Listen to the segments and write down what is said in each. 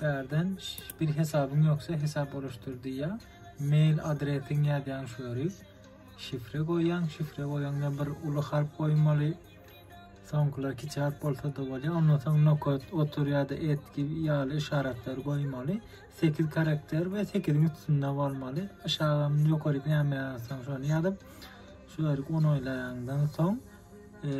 Bärden bir hesabyň ýoksa hesap oluşdyr diýýär. Mail adresiň ýazýaň şu ýeri. Şifre goýýaň, şifre goýaňda bir uly harp goýmaly. Soňkular kiçi harp bolsa da bolýar. Ondan soň nokot, otur ýa-da et gibi ýaly işaratlar goýmaly. 8 karakter we 8-iň üstünde bolmaly. Aşagam ýokary näme ýazsaň şony ýazyp, şu ýeri onaýlaýaňdan soň, e,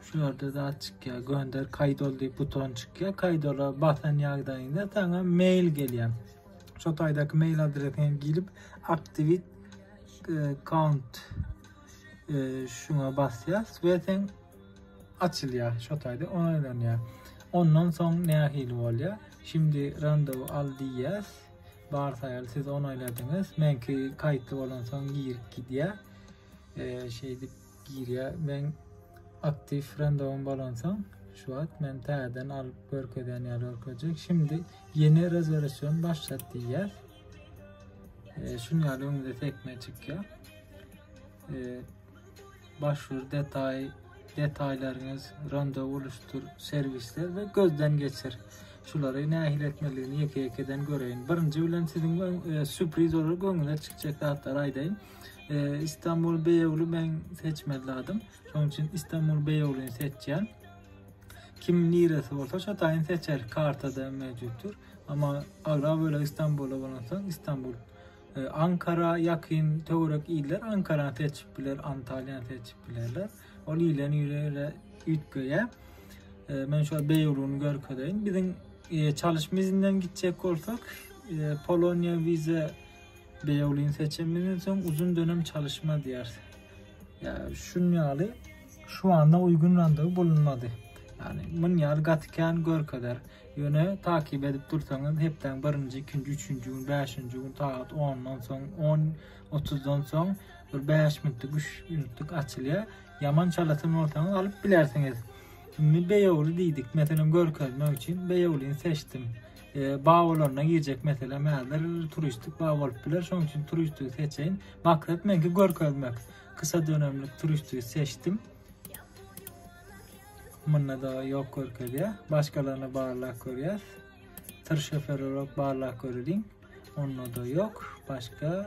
Şu ýerde zat çykýar. Gönder kaýt ol diýip buton çykýar. Kaýt ola basan ýagdaýyňda saňa mail gelýär. Şu taýdaky mail adresiňe girip aktivit account e, e, şuna basýas we sen açylýar şu taýda onaylanýar. Ondan soň nähili bolýar? Şimdi randevu al diýýäs. Bar saýal siz onayladyňyz. Menki kaýtly bolan soň girip gidýär. E, şeýdip Girýä meň aktiw frendowym bolansoň şu wagt men täzeden alyp görkezýän ýaly görkezjek. Şimdi ýene rezerwasiýon başlat diýýär. E, şun ýaly öňüňde sekme çykýar. E, başvur detay detaýlaryňyz, randa uluşdyr, serwisler we gözden geçir. Şulary nähili etmelidigini ýeke-ýekeden göreýin. Birinji bilen siziň e, sürpriz olarak öňüňize çykjak zatlar aýdaýyn. Ee, İstanbul Beyoğlu ben seçmezladım. Şonuň üçin İstanbul Beyoğlu'nu seçýän. Kim niresi bolsa şo taýyn seçer. Kartada mevcutdur. Ama agra böyle İstanbul'a bolansoň İstanbul ee, Ankara yakın töwerek iller Ankara seçip biler, Antalya seçip bilerler. Ol ilen ýere üýtgeýär. Ee, men şu Beyoğlu'nu görkezeýin. Biziň e, çalışma izinden gitjek bolsak, e, Polonya vize Beýolin seçiminden soň uzun dönem çalyşma diýer. Ya şun ýaly şu anda uýgun randewu bulunmady. Yani mün ýaly gaty kän görkezer. Ýöne takip edip dursaňyz hepdäň birinji, ikinji, üçünji gün, bäşinji gün sagat 10-dan soň, 10.30-dan soň bir 5 minutlyk, 3 minutlyk açylýar. Ýaman çalasyn bolsaňyz alyp bilersiňiz. Şimdi Beýogly diýdik. Meselem görkezmek üçin Beýoglyny seçdim. Bag bolanda girjek mesele mädir? Turistik bag bolup biler, şonuň üçin turisti seçeýin. Maksat menki görkezmek. Kysha dönemlik turisti seçdim. Munda da ýok görkezýär. Başgalaryna barlap görýäs. Tır şoferlerok barlap göreliň. Onda da ýok. Başga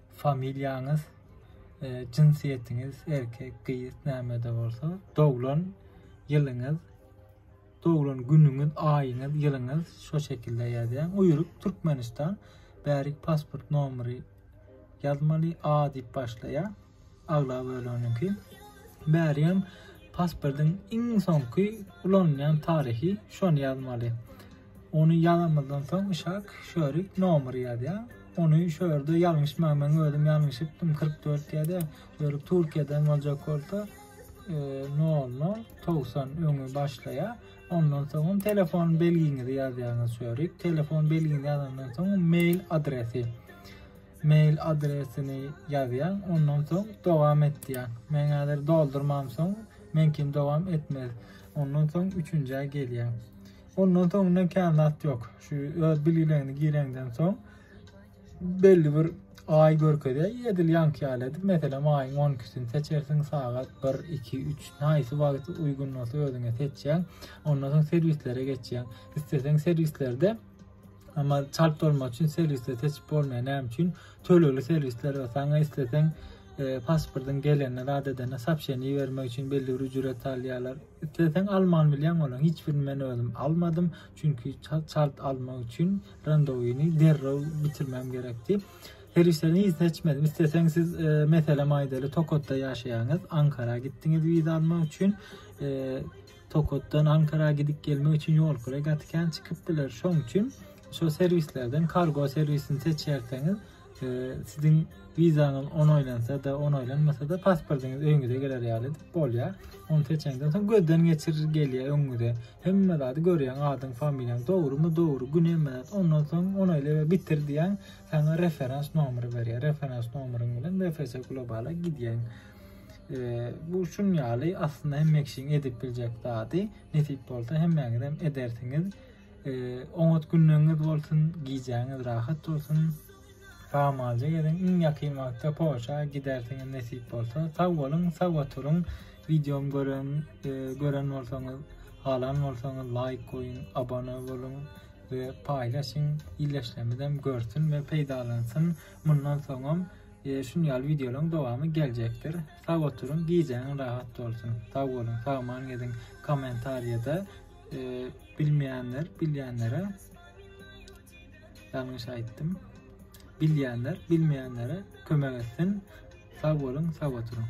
Familiýaňyz, jynsyýetiňiz, erkek, gyz nämede bolsa, doglan ýylyňyz, doglan günüňiz, aýyňyz, ýylyňyz şo şekilde ýazýaň. Uýrup Türkmenistan bärik pasport nomeri ýazmaly A diýip başlaýar. Agla böleniňki. Bäri hem pasportyň iň soňky ulanylýan taryhy şony ýazmaly. Ony ýazanymyzdan soň Yshak Şörik nomer ýazýar. Ony şu ýerde ýalňyşma, men özüm ýalňyşypdym, 44 ýa-da Şörik Türkiýeden boljak bolsa, 00 90 öňe başlaýar. Ondan soňam telefon belgiňizi ýazýaňyz Şörik. Telefon belgini ýazandan soň mail adresi. Mail adresini ýazýaň, ondan soň dowam et diýýär. Men häzir doldurmam soň, meňkini dowam etmez. Ondan soň üçünjä gelýär. Ondan soň inden kän zat ýok. Şu öz bilgilerini gireňden soň belli bir aý görkezýär. Edil ýanky ýaly edip, meselem aýyň 12-sini seçersiň, sagat 1, 2, 3, haýsy wagt uýgun bolsa özüňe seçýäň. Ondan soň serwislere geçýäň. Isleseň serwislerde Ama çalp dolma üçin serwisde seçip bolmaýar. Näme üçin? Tölegli serwisler bar. Saňa isleseň e, pasportyň gelenine, zat edene sapşeni bermek üçin belli bir ücret alýarlar. Isleseň alman bilýäň olaň hiç birini men özüm almadym çünki çalt almak üçin randowini derrew bitirmem gerekdi. Serwislerini hiç seçmedim. Isleseň siz e, meselem aýdaly Tokotda ýaşaýaňyz, Ankara gitdiňiz wiza almak üçin e, Tokotdan Ankara gidip gelmek üçin ýol kyrasy gaty kän çykyp biler. Şoň üçin şu serwislerden kargo serwisini seçerseňiz Siziň wizaňyz onaýlansa-da, onaýlanmasa-da pasportyňyz öýüňize geler ýaly bolýar. Ony seçeňden soň gözden geçir gelýär öňüňize. Hemme zady görýäň, adyň, familiýaň dogrumy, dogry, gün hemme zat. Ondan soň onaýla we bitir diýýän, saňa referans nomeri berýär. Referans nomeryň bilen BFS Globala gidýäň. Bu şun ýaly aslynda hemme kişiň edip biljek zady. Nesip bolsa hemmäňizem edersiňiz. Oňat günleňiz bolsun, gijäňiz rahat bolsun. Samalja geliň, iň ýakyn wagtda Porsche gidersiňiz nesip bolsa. Sag boluň, sag oturyň. Videom gören, e, gören bolsaňyz, halan bolsaňyz laýk goýuň, abone boluň we paýlaşyň. Illeşlemizem görsün we peýdalansyn. Mundan soňam e, şun ýaly videolaryň dowamy geljekdir. Sag oturyň, gijäňiz rahat bolsun. Sag boluň, sagman gediň. Kommentariýada Ee, bilmeýänler, bilýänlere ýalňyş aýtdym. Bilýänler, bilmeýänlere kömek etsin. Sag boluň, sag oturyň.